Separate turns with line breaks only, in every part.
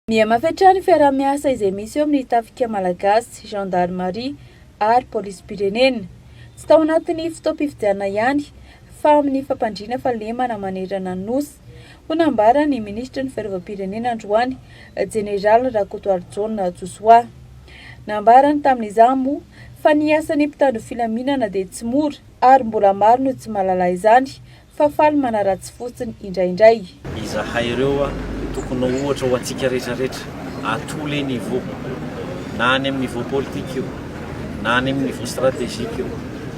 Mihamafy hatrany ny fiaraha-miasa izay misy eo amin'ny Tafika Malagasy, Gendarmerie ary Polisim-pirenena. Tsy tao anatin'ny fotoam-pifidianana ihany fa amin'ny fampandriana fahalemana manerana ny Nosy, hoy nambaran'ny Minisitry ny Fiarovam-pirenena androany, Jeneraly Rakotoarijaona Josoa. Nambarany tamin'izany moa fa ny asan'ny mpitandro filaminana dia tsy mora ary mbola maro no tsy mahalala izany fa faly manaratsy fotsiny indraindray. Izahay ireo
tokony ho ohatra ho antsika rehetra rehetra à tous les niveaux, na any amin'ny niveau politique io, na any amin'ny niveau stratégique io,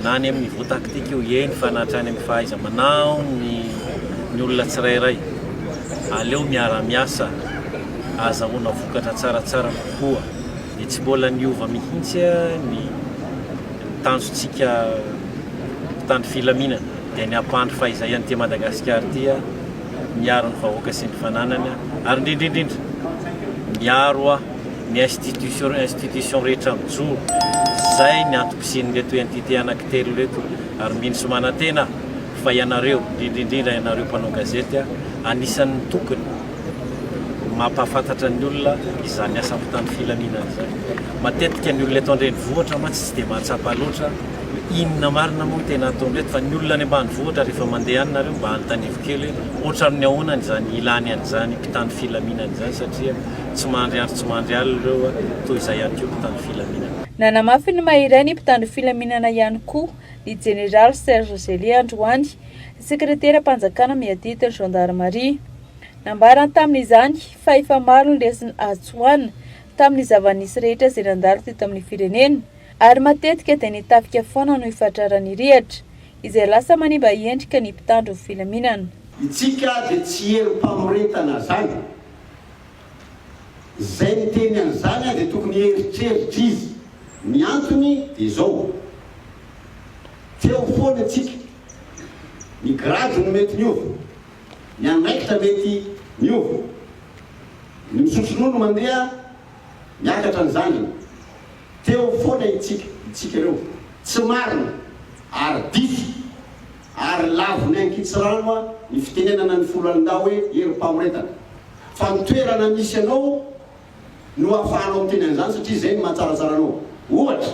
na any amin'ny niveau tactique io, eny fa na hatrany amin'ny fahaiza-manao ny ny olona tsirairay. Aleo miara-miasa ahazahoana vokatra tsaratsara kokoa dia tsy mbola niova mihitsy ny ny tanjontsika mpitandro filaminana. dia ny hampandry fahizay an'ity Madagasikara ity, miaro ny vahoaka sy ny fananany ary indrindrindrindra miaro ny institution institution rehetra mijoro izay ny antom-pisian'ireto entité anankitelo ireto ary mino sy manantena aho fa ianareo indrindrindrindra ianareo mpanao gazety anisan'ny tokony mampahafantatra ny olona izany asa ampitan'ny filaminana izany. Matetika ny olona eto an-drenivohitra mantsy tsy dia mahatsapa loatra inona marina moa no tena ataon'ireto fa ny olona any ambanivohitra rehefa mandeha any nareo mba anontanivo kely hoe ohatran'ny ahoana ny izany ilany an'izany mpitan'ny filaminana izany satria tsy mandry andro tsy mandry alina ireo toy izay ihany koa mpitan'ny filaminana. Nanamafy ny maha
iray ny mpitandro filaminana ihany koa ny jeneraly Serge Zely androany Sekreteram-panjakana miadidy ny zandarimaria. Nambarany tamin'izany fa efa maro ny lesona azo tsoahina tamin'ny zava-nisy rehetra izay nandalo teto amin'ny firenena ary matetika dia ny tafika foana no ifatraran'ny rihatra izay lasa manimba endrika ny mpitandro ny filaminana. Itsika
dia tsy herim-pamoretana zany. Izay niteny an'izany aho dia tokony hieritreritra izy. Ny antony dia izao, teo foana isika, ny grade no mety miova, ny andraikitra mety miova, ny misotro ronono mandeha miakatra ny zandriny, teo foana isika, isika ireo. Tsy marina ary diso ary lavon'ny ankitsirano ny fitenenana ny foloalindahy hoe herim-pamoretana. Fa ny toerana misy anao no ahafahanao miteny an'izany satria izay no mahatsaratsara anao. Ohatra,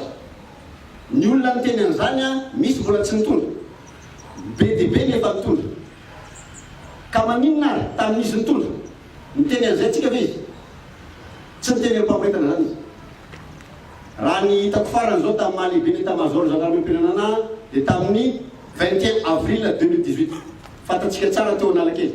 ny olona miteny an'izany an, misy mbola tsy nitondra. Be dia be ny efa nitondra. Ka maninona ary, tamin'izy nitondra, niteny an'izay tsika ve izy? Tsy niteny amim-pamoretana izany izy. Raha ny hitako farany izao tamin'ny maha lehiben'ny Etamazaoron'ny Zandarimarim-pirenana ahy dia tamin'ny vingt et un avril deux mille dix-huit. Fantatsika tsara teo Analakely.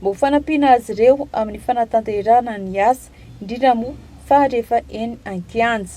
Mba ho fanampiana azy ireo amin'ny fanatanterahana ny asa, indrindra moa fa rehefa eny an-kianja.